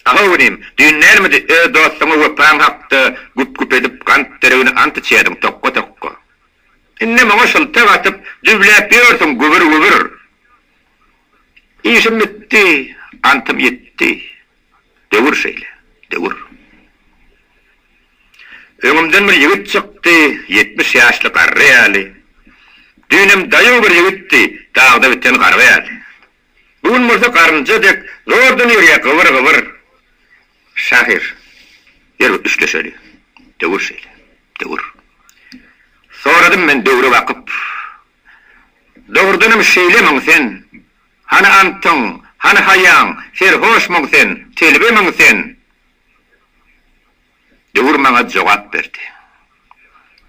Ahow inim, düýn närmidi öz dostuňa wepaň hakda güp-güp edip gant deregine ant içýärdiň tokga-tokga. Indem oňa şyltak atyp, düwläp ýörsiň gübür-gübür. Işim bitdi, antym ýitdi. Döwür şeýle, döwür. Öňümden bir ýigit çykdy, ýetmiş ýaşly garry ýaly. Düýnem daýaw bir ýigitdi, dagda biten garga ýaly. Bu gün bolsa garynja dek zordan ýörýär gybyr-gybyr. Şahyr, Ýör, üçleşeli. Döwür şeýle. Döwür. Soradym men döwre bakyp. Dogrudanam şeýlemiň sen? Hany antyň, hany haýaň, serhoşmyň sen, telbemiň sen? Döwür maňa jogap berdi.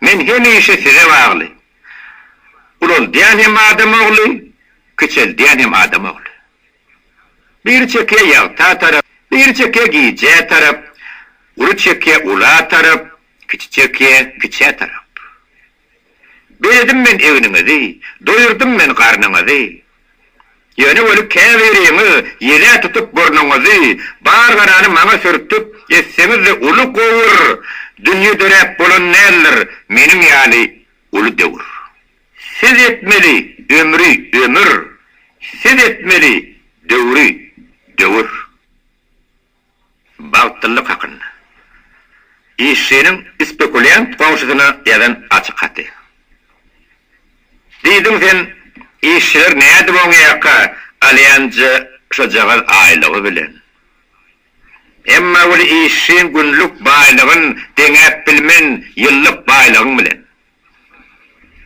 Men hemişe size bagly. Ulaldýan hem adam ogly, kiçeldýän hem adam ogly. Biri çekýä ýagta tarap, biri çekýä gijä tarap, uly çekýä ula tarap, kiçi çekýä kiçä tarap. Beredim men egniňizi, doýurdym men garnyňyzy. Ýöne weli käbiriňiz ýelä tutup burnuňyzy, bar garany maňa sürtüp, etseňiz-de uly gowur, dünýe döräp bolan däldir, meniň ýaly uly döwür. Siz etmeli ömri, ömür, siz etmeli döwri, döwür. Bagtlylyk hakynda. Işçiniň spekulýant goňşusyna ýazan açyk haty. Diýdiň sen, işçiler nädip oň ýaka alýanja şojagaz aýlygy bilen. Emma weli işçiň günlük baýlygyn deňäp bilmen ýyllyk baýlygyň bilen.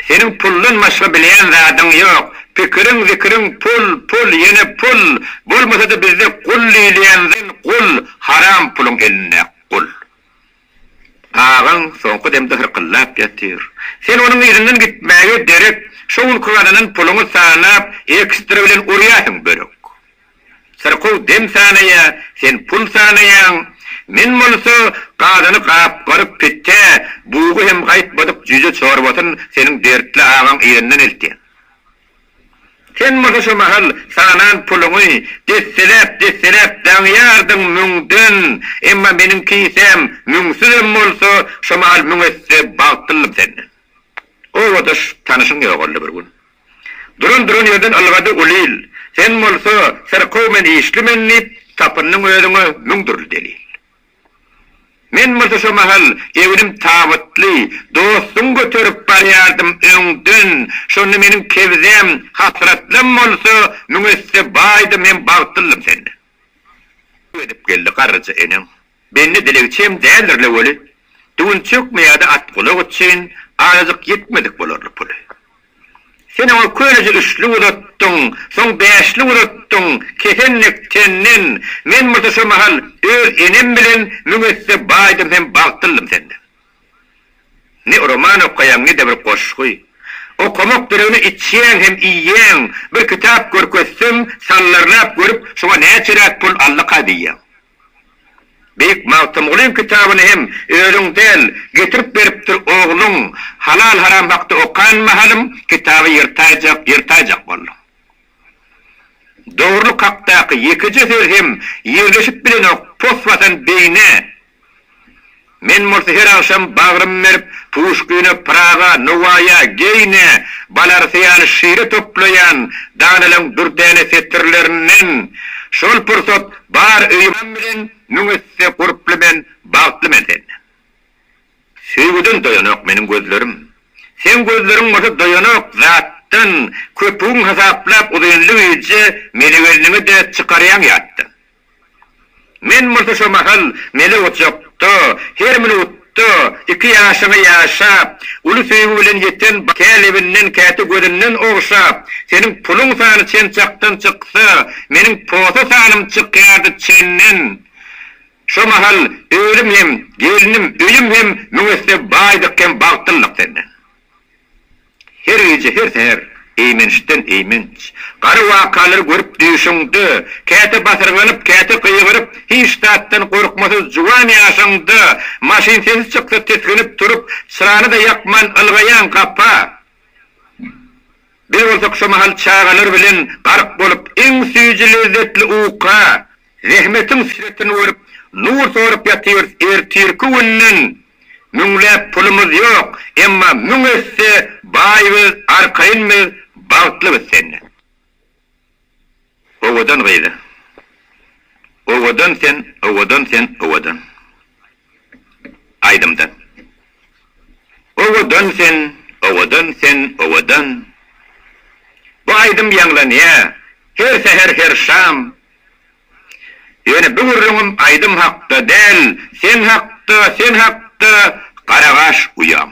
Seniň puldan başga bilýän zadyň ýok. Pikiriň zikiriň pul, pul, ýene pul. Bolmasa-da bizde gul diýilýänzn gul, haram puluň elinde gul. Agaň soňky demde hyrkyldap ýatyr. Sen onuň yzyndan gitmäge derek, şo günki gazanan puluňy sanap, ekstra bilen urýarsyň börek. Syrkaw dem sanaýar, sen pul sanaýaň. Men bolsa gazyny gap-garyk pitde, bugy hem gaýtmadyk jüýje çorbasyn seniň dertli agaň elinden eltýän. Sen bolsa şu mahal sanan puluňy desseläp-desseläp daňýardyň müňden, emma meniň kisäm müňsüzem bolsa, şu mahal müň esse bagtlyldym senden. Obadaş tanyşyň ýogaldy bir gün. Duran duran ýerden ylgady Ulil, Sen bolsa, syrkaw men işli men diýip, tapyndyň özüňe müň dürli delil. Men bolsa şo mahal egnim tabytly, dostuň göterip barýardym öňden, şonda meniň kebzäm, hasratlym bolsa, müň esse baýdym hem bagtlyldym senden. Edip geldi garryja eneň, Bendi dilegçi hem däldir-le weli, düwünçekmi ýa-da atgulak üçin azajyk ýetmedik bolarly puly. Sen oňa köneje üçlük uzatdyň, soň bäşlik uzatdyň, kesenek senden, men bolsa şo mahal öz enem bilen müň esse baýdym hem bagtlyldym senden. Ne roman okaýaň, ne-de bir goşgy. Okamak deregine içýäň hem iýýäň, bir kitap görkezsem, sallarlap görüp, şoňa näçeräk pul allakaý diýýäň. Beýik Magtymgulyň kitabyny hem özüň däl, getirip beripdir ogluň, halal-haram hakda okan mahalym, kitaby ýyrtaýjak, ýyrtaýjak bolduň. Dogrulyk hakdaky ýekeje söz hem ýerleşip bilenok pos basan beýne. Men bolsa her agşam bagrym berip, Puşkine, Pyraga, Nowaýa, Geýne, Balarsa ýaly şire toplaýan danalaň dürdäne setirlerinden Şol pursat bar öýüm Atam bilen müň esse gurply men Bagtly men senden. Söýgüden doýanok meniň gözlerim. Seň gözleriň bolsa doýanok zatdan Köpügiň hasaplap uzynly gije Meni gelniňe-de çykarýaň ýatdan. Men bolsa şo mahal mele ojakda, her minutda iki ýaşyňy ýaşap, uly söýgi bilen ýeten kä lebinden, käte gözünden ogşap, seniň puluň sany çen çakdan çyksa, meniň posa sanym çykýardy çenden. Şo mahal özüm hem, gelnim, öýüm hem müň esse baýdyk hem bagtlydyk senden. Her gije, her säher, eýmençden eýmenç, gara wakalary görüp düýşüňde, käte basyrganyp, käte gygyryp, hiç zatdan gorkmasyz juwan ýaşyňda, maşyn sesi çyksa tisginip turup, çyrany-da ýakman ylgaýaň gapa. Biz bolsak şo mahal çagalar bilen gark bolup, iň süýji-lezzetli uka, Zähmetiň süretini görüp, nur sorup ýatyrys, ertirki günden müňläp pulumyz ýok, emma müň esse baý biz, arkaýyn biz, bagtly biz sende. Owadan gyz-a. Owadan sen, owadan sen, owadan. Aýdymda Owadan sen, owadan sen, owadan Bu aýdym ýaňlanýar her säher her şam Ýöne bu gürrüňim aýdym hakda däl Sen hakda, sen hakda garagaş uýam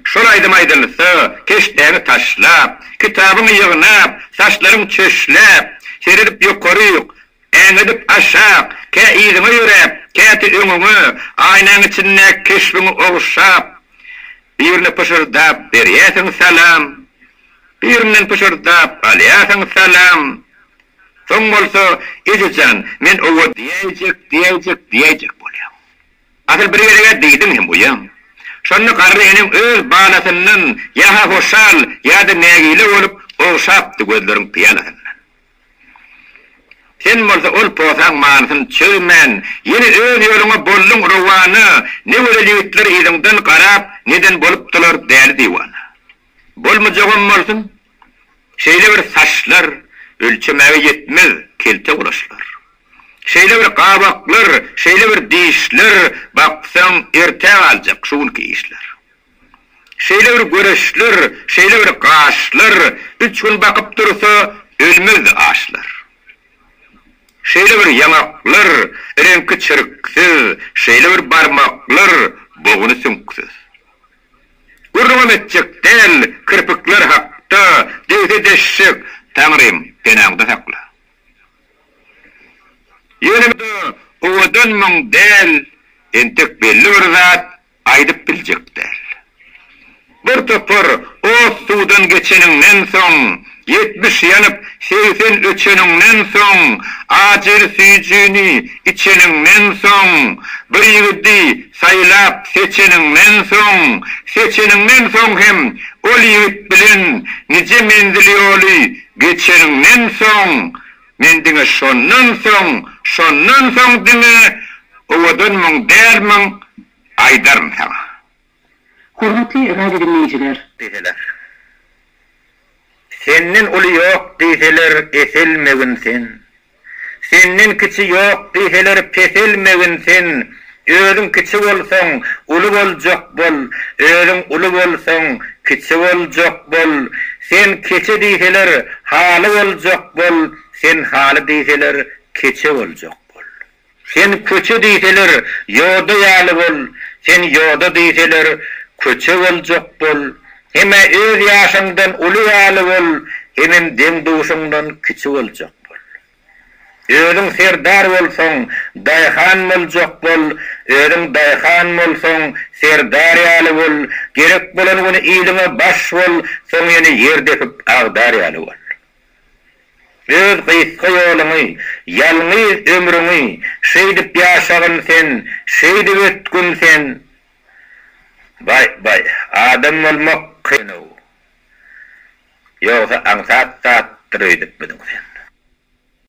Şol aýdym aýdylsa keşdäňi taşlap Kitabyňy ýygnap, saçlaryň çöşläp Seredip ýokaryk Äňedip aşak, kä yzyňa ýöräp, käte öňüňe, aýnaň içindäki keşbiňi oguşap, birine pyşyrdap berýärsiň salam, birinden pyşyrdap alýarsyň salam, soň bolsa, Eje jan, men owa diýäýjek, diýäýjek, diýäýjek bolýaň. Asyl bir gezeg-ä diýdiň hem goýaň. Şonda garry eneň öz balasyndan ýa-ha hoşal, ýa-da nägile bolup, ogşapdy gözleriň pyýalasyndan. Sen bolsa ol posaň manysyny çözmän, ýene öz ýoluňa bolduň rowana, ne gözel ýigitler yzyňdan garap, neden bolupdylar däli diwana. Bolmajagam bolsun, şeýle bir saçlar, ölçemäge ýetmez kelte gulaçlar. Şeýle bir gabaklar, şeýle bir dişler, baksaň, erte galjak şu günki işler. Şeýle bir göreşler, şeýle bir gaşlar, Üç gün bakyp dursa, ölmez aşlar. Şeýle bir ýaňaklar, reňki çirksiz, Şeýle bir barmaklar, boguny süňksüz. Gürrüňem etjek däl, kirpikler hakda, Degse deşjek, Taňrym, penaňda sakla. Ýöne men-ä owadanmyň däl, Entek belli bir zat, Aýdyp biljek däl. Bir topar ot suwdan geçeniňden soň, ýetmiş ýanyp, segsen öçeniňden soň, ajyr süýjini içeniňden soň, bir ýigidi saýlap seçeniňden soň, seçeniňden soň hem ol ýigit bilen nije menzil ýoly geçeniňden soň, Men diňe şondan soň, şondan soň diňe owadanmyň, dälmiň aýdaryn saňa. Hormatly radiodiňleýjiler! Diýseler. Senden uly ýok diýseler, eselmegin sen. Senden kiçi ýok diýseler, peselmegin sen. Özüň kiçi bolsaň, uly boljak bol, özüň uly bolsaň, kiçi boljak bol. Sen keçe diýseler, haly boljak bol, sen haly diýseler, keçe boljak bol. Sen köçe diýseler, ýoda ýaly bol, sen ýoda diýseler, köçe boljak bol. Hem-ä öz ýaşyňdan uly ýaly bol, hemem deň-duşuňdan kiçi boljak bol. Özüň serdar bolsaň, daýhan boljak bol, özüň daýhan bolsaň, serdar ýaly bol, gerek bolan gün iliňe baş bol, soň ýene ýer depip agdar ýaly bol. Öz gysga ýoluňy, ýalňyz ömrüňi şeýdip ýaşagyn sen, şeýdip ötgün sen. Baý, baý, adam bolmak kyn-ow. Ýogsa aňsat zatdyr öýdüpmidiň sen?